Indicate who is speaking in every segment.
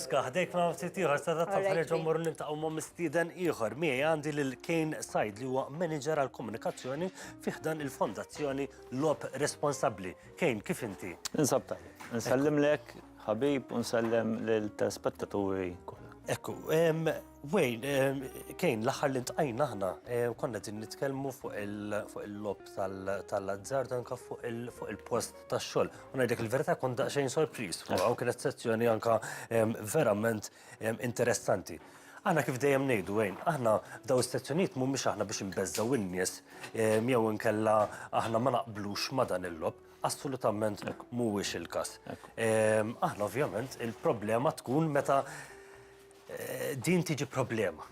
Speaker 1: Ska ħdejk ma' ftit ieħor se tagħtaf ħreġa mmur nintaqgħu ma' mistieden ieħor. Miegħi għandi lil Kane Said li huwa manager għal komunikazzjoni fi ħdan il-Fondazzjoni Lob Responsabbli. Kane, kif inti? Insab tajjeb.
Speaker 2: Nsellimlek ħabib u nsellem lil telespettaturi kollha. Ekku,
Speaker 1: Wayne, Kane, l-aħħar li ntqajna aħna konna qegħdin nitkellmu fuq il-lob tal-azzard anke fuq il-post tax-xogħol. U ngħidlek il-verità kont daqsxejn sorpriż fuq hawn kienet sezzjoni anke verament interessanti. Aħna kif dejjem ngħidu Wayne, aħna daw is-sezzjonijiet mhumiex aħna biex inbeżżgħu in-nies jew inkella aħna ma naqblux ma' dan il-lob, assolutament mhuwiex il-każ. Aħna ovvjament il-problema tkun meta Din tiġi problema.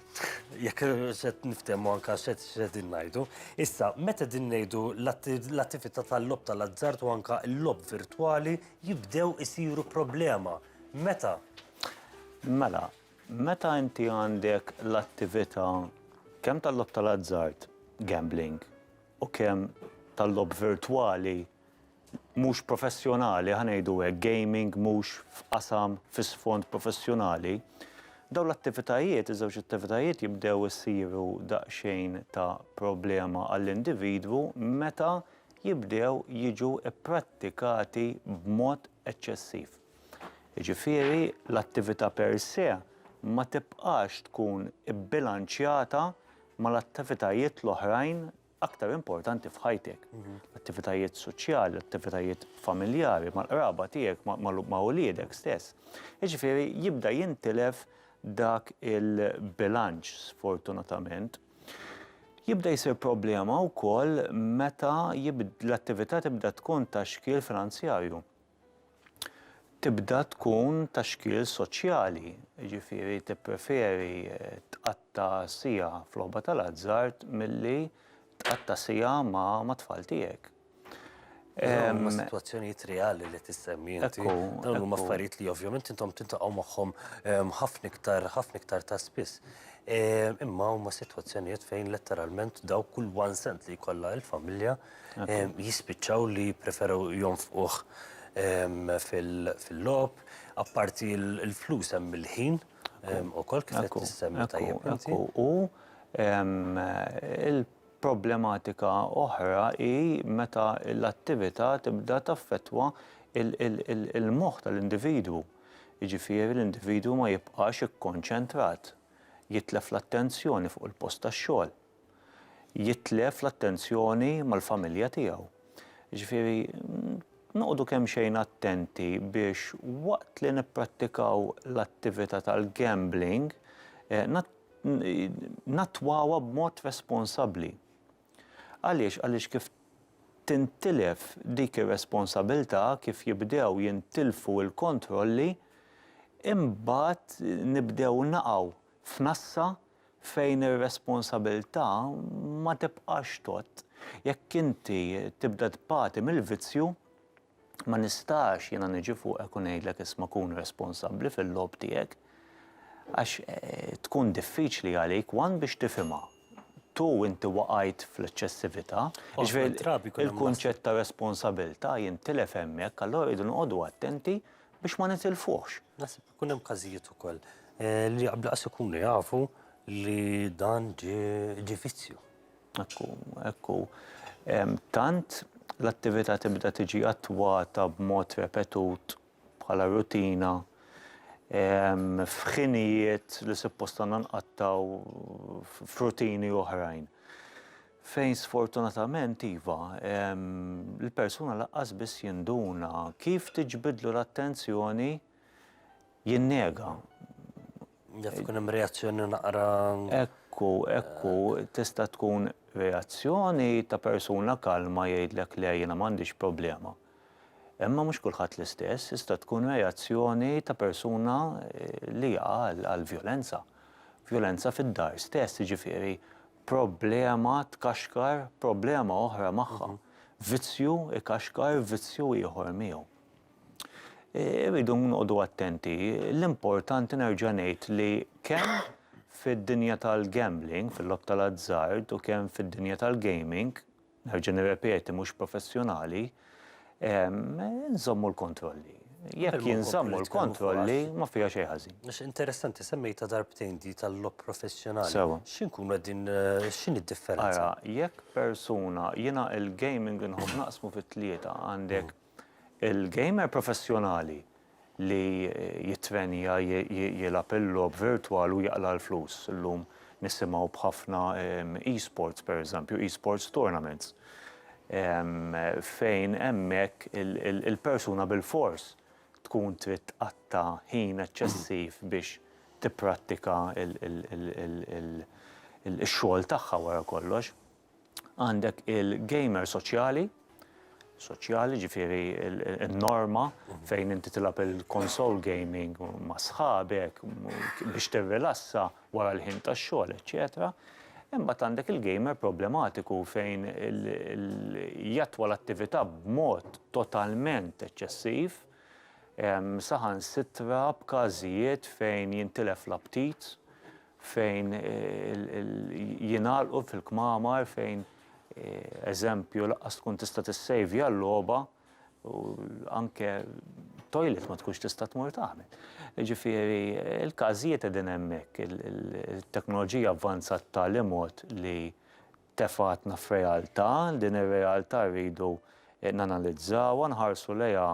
Speaker 1: Jekk set niftehmu anka set din ngħidu. Issa, meta din ngħidu l-attività tal-lob tal-azzard u anka l-lob virtwali jibdew isiru problema. Meta?
Speaker 2: Mela, meta inti għandek l-attività kemm tal-lob tal-azzard, gambling, u kemm tal-lob virtwali, mhux professjonali, ħa ngħidu hekk, gaming mhux f'qasam fi sfond professjonali, dawn l-attivitajiet, iż-żewġ attivitajiet jibdew isiru daqsxejn ta' problema għall-individwu meta jibdew jiġu pprattikati b'mod eċċessiv. Jiġifieri l-attività per se ma tibqax tkun ibbilanċjata mal-attivitajiet l-oħrajn aktar importanti f'ħajtek. L-attivitajiet soċjali, l-attivitajiet familjari, mal-qraba tiegħek, ma' uliedek stess. Jiġifieri jibda jintilef dak il-bilanċ sfortunatament. Jibda jsir problema wkoll meta l-attività tibda tkun ta' xkiel finanzjarju. tibda tkun ta' xkiel soċjali, jiġifieri tippreferi tqatta' siegħa f'logħba tal-azzard milli tqatta' siegħa ma' tfal tiegħek. Dawn
Speaker 1: huma sitwazzjonijiet reali li qed issemmi inti. Dawn huma affarijiet li ovvjament intom tiltaqgħu magħhom ħafna iktar, ħafna iktar ta' spiss. Imma huma sitwazzjonijiet fejn letteralment dawk kull one cent li jkollha l-familja jispiċċaw li jippreferu jonfquh fil-logħob, apparti l-flus hemm il-ħin ukoll kif qed issemmi tajjeb inti. U l-problematika oħra hi meta l-attività tibda taffettwa l-moħħ tal-individwu. Jiġifieri l-individwu ma jibqax ikkonċentrat, jitlef l-attenzjoni fuq il-post tax-xogħol. jitlef l-attenzjoni mal-familja tiegħu. Ġifieri noqogħdu kemmxejn attenti biex waqt li nipprattikaw l-attività tal-gambling nattwawha b'mod responsabbli. Għaliex? Għaliex kif tintilef dik ir-responsabilità, kif jibdew jintilfu l-kontrolli, imbagħad nibdew naqgħu f'nassa fejn ir-responsabilità ma tibqax tgħodd. Jekk inti tibda tbati mill-vizzju, ma nistax jiena niġi fuqek u ngħidlek isma' kun responsabbli fil-logħob tiegħek, għax tkun diffiċli għalik one biex tifhimha, two inti waqajt fl-eċċessività, jiġifieri l-kunċett ta' responsabilità jintilef hemmhekk, allura rridu noqogħdu attenti biex ma nitilfuhx. Naħseb ikun hemm każijiet ukoll li qabel qas ikunu jafu li dan ġie vizzju. Ekku,
Speaker 2: ekku. Tant l-attività tibda tiġi attwata b'mod repetut bħala rutina f'ħinijiet li suppost għandna nqattgħu f'rutini oħrajn. Fejn sfortunatament iva, l-persuna laqqas biss jinduna kif tiġbidlu l-attenzjoni jinnega.
Speaker 1: Jaf ikun hemm reazzjoni naqra. Ekku,
Speaker 2: ekku, tista' tkun reazzjoni ta' persuna kalma jgħidlek le jiena m'għandix problema. Imma mhux kulħadd l-istess, tista' tkun reazzjoni ta' persuna li jaqa' għal vjolenza. Vjolenza fid-dar stess, jiġifieri problema tkaxkar problema oħra magħha. Vizzju ikaxkar vizzju ieħor miegħu. Irridu noqogħdu attenti, l-importanti nerġa' ngħid li kemm fid-dinja tal-gambling, fil-lob tal-azzard u kemm fid-dinja tal-gaming, Nerġa' nirrepeti mhux professjonali, nżommu l-kontrolli.
Speaker 1: Jekk jinżammu l-kontrolli ma fiha xejn ħażin. Għax interessanti
Speaker 3: semmejtha darbtejn di tal-logħob professjonali. Sewa. Xi nkunu
Speaker 1: qegħdin
Speaker 3: x'inhi d-differenza? Ara, jekk
Speaker 1: persuna, jiena l-gaming inħobb naqsmu fi tlieta, għandek Il-gamer professjonali li jittrenja jilgħab il-logħob virtwal u jaqla' l-flus. Illum nisimgħu b'ħafna e-sports pereżempju, e-sports tournaments, fejn hemmhekk il-persuna bilfors tkun trid tqatta' ħin eċċessiv biex tipprattika x-xogħol tagħha wara kollox. għandek il-gamer soċjali, soċjali ġifiri il-norma mhm. fejn inti tilab il-konsol gaming ma' sħabek biex tirrilassa wara l-ħin ta' xogħol, eċċetera. Imma għandek il-gamer problematiku fejn jatwa l-attività b'mod totalment eċċessiv, saħan sitra b'każijiet fejn jintilef l-aptit, fejn jingħalqu fil-kmamar fejn eżempju laqqas tkun tista' tissejvja l-logħba u anke toilet ma tkunx tista' tmur tagħmel. Ġifieri l-każijiet qegħdin hemmhekk, it-teknoloġija avvanzat b'tali mod li tefgħatna f'realtà, din ir-realtà rridu nanalizzawha, nħarsu lejha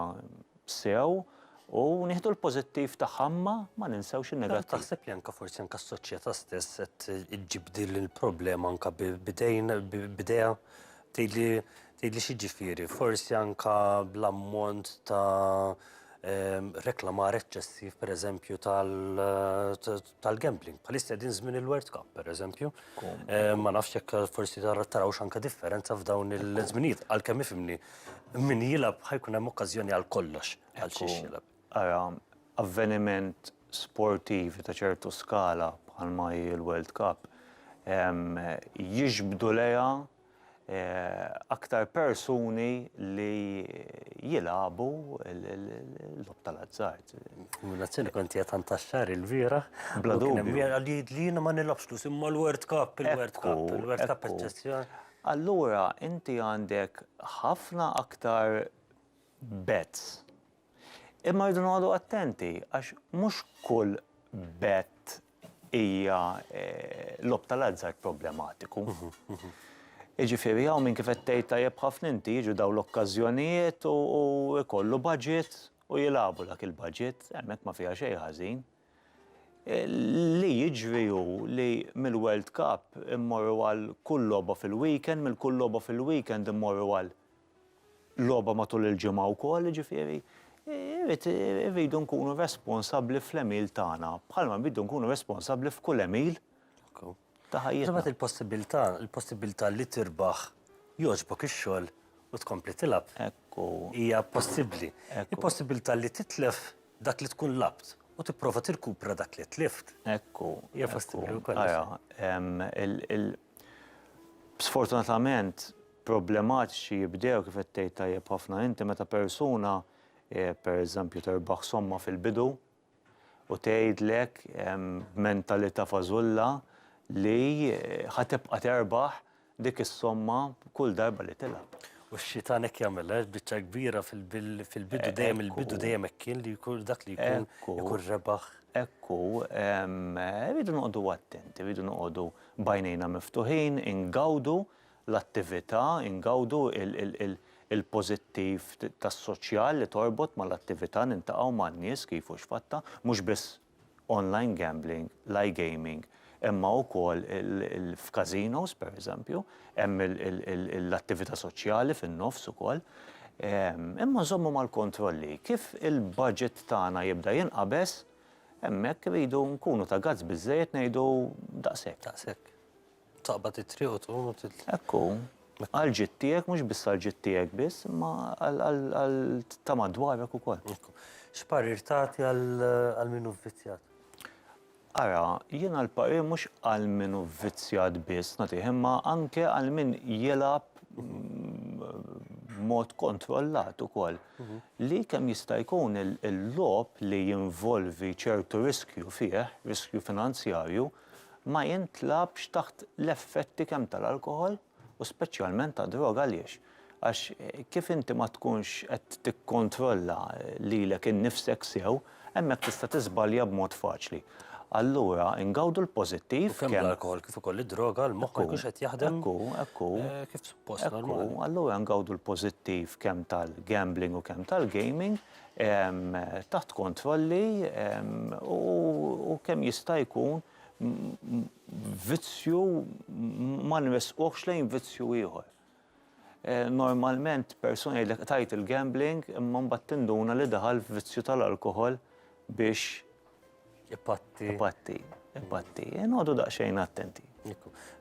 Speaker 1: sew u nieħdu l-pożittiv tagħha imma ma ninsewx in-negattiv. Taħseb li anke forsi anke
Speaker 3: s-soċjetà stess qed iġġib din il-problema anke b'idejn b'idejha tgħidli tgħidli x'jiġifieri, forsi anke bl-ammont ta' reklamar eċċessiv pereżempju tal tal-gambling. Palista din żmien il-World Cup, per eżempju. Eh, ma nafx jekk forsi taraw xanka differenza f'dawn il-żminijiet. Għalkemm ifimni, min jilab ħajkun hemm okkażjoni għal kollox għal xiex jilab. Ara,
Speaker 1: avveniment sportiv ta' ċertu skala bħalma hi l-World Cup jiġbdu leja aktar persuni li jilagħbu l-logħob tal-azzard. Minnazzjoni kont
Speaker 3: qiegħed antaxxar il-bieraħ. Bla dubju.
Speaker 1: Li jiena ma
Speaker 3: nilgħabx flus imma l-World Cup, il-World Cup, il-World Cup eċċezzjoni. Allura
Speaker 1: inti għandek ħafna aktar bets. Imma rridu noqogħdu attenti għax mhux kull bet hija logħob tal-azzard problematiku. Jiġifieri hawn min kif qed tgħid tajjeb ħafna inti jiġu dawn l-okkażjonijiet u jkollu budget u jilagħbu dak il-budget, hemmhekk ma fiha xejn ħażin. Li jiġri hu li mill-World Cup immorru għal kull logħba fil-weekend, mill-kull logħba fil-weekend immorru għal logħba matul il-ġimgħa wkoll, jiġifieri irid irridu nkunu responsabbli fl-għemil tagħna, bħalma rridu nkunu responsabbli f'kull għemil ta' ħajjitna. Iżda mbagħad il-possibbiltà, il-possibbiltà
Speaker 3: li tirbaħ, jogħġbok ix-xogħol u tkompli tilgħab, hija
Speaker 1: possibbli.
Speaker 3: Il-possibbiltà li titlef dak li tkun lgħabt u tipprova tirkupra dak li tlift, hija
Speaker 1: possibbli wkoll.
Speaker 3: Ara,
Speaker 1: sfortunatament, problematiċi jibdew, kif qed tgħid tajjeb ħafna inti, meta persuna, pereżempju, terbaħ somma fil-bidu u tgħidlek b'mentalità fażulla li ħa tibqa' terbaħ dik is-somma kull darba li tilgħab. U x-xitan hekk
Speaker 3: jagħmel, għax biċċa kbira fil-bidu dejjem il-bidu dejjem hekk kien li jkun dak li jkun ikun rebaħ. Ekku,
Speaker 1: rridu noqogħdu attenti, rridu noqogħdu b'għajnejna miftuħin, ingawdu l-attività, ingawdu l-pożittiv tas-soċjal li torbot mal-attività, niltaqgħu man-nies kif u x'fattha, mhux biss online gambling, l-iGaming, imma wkoll f'casinos, pereżempju, hemm l-attività soċjali fin-nofs ukoll. Imma nżommu mal-kontrolli. Kif il-budget tagħna jibda jinqabeż, hemmhekk irridu nkunu ta' gazz biżżejjed ngħidu daqshekk.
Speaker 3: Taqbad it-triq u tqum u titla'. Hekk hu.
Speaker 1: Għall-ġid tiegħek, mhux biss għall-ġid tiegħek biss, imma għal ta' madwarek ukoll. Hekk hu. X'parir
Speaker 3: tagħti għal min hu vvizzjat? Ara,
Speaker 1: jiena l-parir mhux għal min hu vvizzjat biss nagħtih, imma anke għal min jilgħab b'mod kontrollat ukoll. Li kemm jista' jkun il-logħob li jinvolvi ċertu riskju fih, riskju finanzjarju, ma jintlagħabx taħt l-effetti kemm tal-alkoħol u speċjalment tad-droga għaliex? Għax kif inti ma tkunx qed tikkontrolla lilek innifsek sew, hemmhekk tista' tiżbalja b'mod faċli. Allura ingawdu l-pożittiv kemm. U kemm l-alkoħol kif
Speaker 3: ukoll id-droga l-moħħ ma jkunx qed jaħdem kif suppost normalment. Ekku, allura ngawdu
Speaker 1: l-pożittiv kemm tal-gambling u kemm tal-gaming taħt kontrolli u kemm jista' jkun vizzju ma nressquhx lejn vizzju ieħor. Normalment persuna jgħidlek tajt il-gambling imma mbagħad tinduna li daħal f'vizzju tal-alkoħol biex Ipatti. Ipatti, ipatti. E Nodu daqxejn attenti.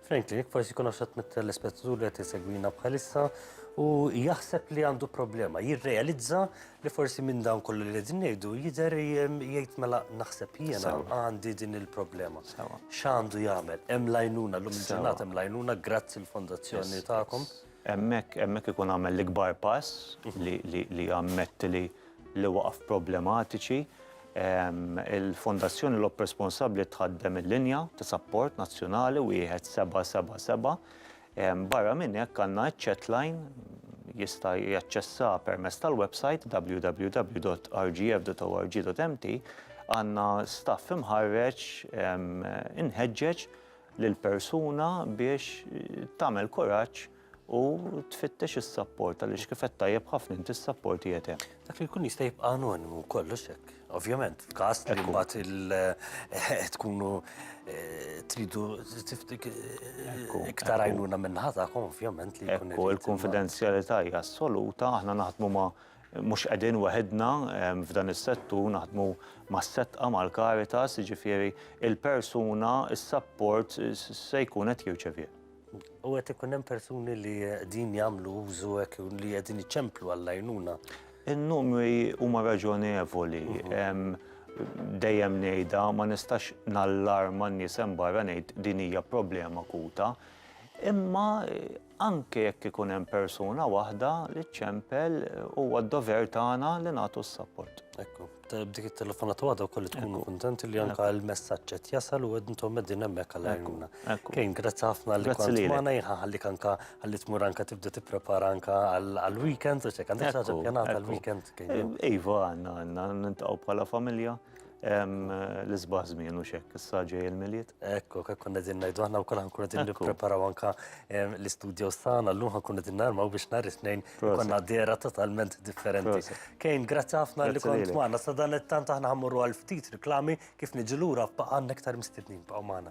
Speaker 1: Franklin,
Speaker 3: jek forsi kuna xat mittel l-ispettur li għati segwina bħalissa u jaħseb li għandu problema, jirrealizza li forsi minn dan kollu li għedin nejdu jider jgħid mela naħseb jena għandi din il-problema. Xandu jgħamil, hemm lajnuna, l-lum ġurnat hemm lajnuna, grazzi l-fondazzjoni ta'kom. Hemmhekk hemmhekk
Speaker 1: ikun għamel l-ikbar pass li jammetti li waqaf problematiċi. Il-Fondazzjoni Lob Responsabbli tħaddem il-linja ta' sapport nazzjonali wieħed seba' seba' seba'. Barra minn hekk għandna ċ-chatline jista' jaċċessa permezz tal-websajt www.rgf.org.mt għandna staff imħarreġ inħeġġeġ lill-persuna biex tagħmel kuraġġ u tfittex is-sapport għaliex kif qed tajjeb ħafna inti s-sapport qiegħed hemm. Dak li jkun jista' jibqa'
Speaker 3: anonimu kollox hekk. Ovvjament, f'każ li mbagħad il eh, tkunu eh, tridu eh, iktar għajnuna minn ħatakom, ovvjament li jkun. Ekku, il-konfidenzjalità
Speaker 1: hija assoluta, aħna naħdmu ma' Mhux qegħdin weħidna f'dan is-settur, naħdmu mas-setqa, mal-Caritas, jiġifieri l-persuna s-sapport se jkun qed jirċevieh. U qed ikun
Speaker 3: hemm persuni li qegħdin jagħmlu użu hekk jew li qegħdin iċemplu għall-għajnuna? In-numri
Speaker 1: huma raġonevoli. Dejjem ngħidha, ma nistax nallarma n-nies hemm barra ngħid din hija problema akuta. Imma Anke jekk ikun hemm persuna waħda li ċċempel, huwa d-dover tagħna li nagħtu s-sapport. Ekku, b'dik
Speaker 3: it-telefonata waħda wkoll li tkunu kuntenti li anke l-messaġġ qed jasal u intom qegħdin hemmhekk għal għajnuna. Kane, grazzi ħafna li kont magħna, jien ħanħallik anke ħalli tmur anke tibda tipprepara anke għall-weekend, għax hekk għandek xi ħaġa ppjanata għall-weekend, Kane? Iva, għandna, għandna,
Speaker 1: niltaqgħu bħala familja. L-isbaħ żmien u xekk, issa ġej il-milied. Ekku, hekk konna din
Speaker 3: ngħidu aħna wkoll ħankunu din nippreparaw anke l-istudios tagħna llum ħankunu din narmaw biex nhar it-Tnejn konna dera totalment differenti. Kejn, grazzi ħafna li kont magħna. Sa dan it-tant aħna ħammorru għal ftit riklami kif niġu lura b'għandna iktar mistednin baqgħu magħna.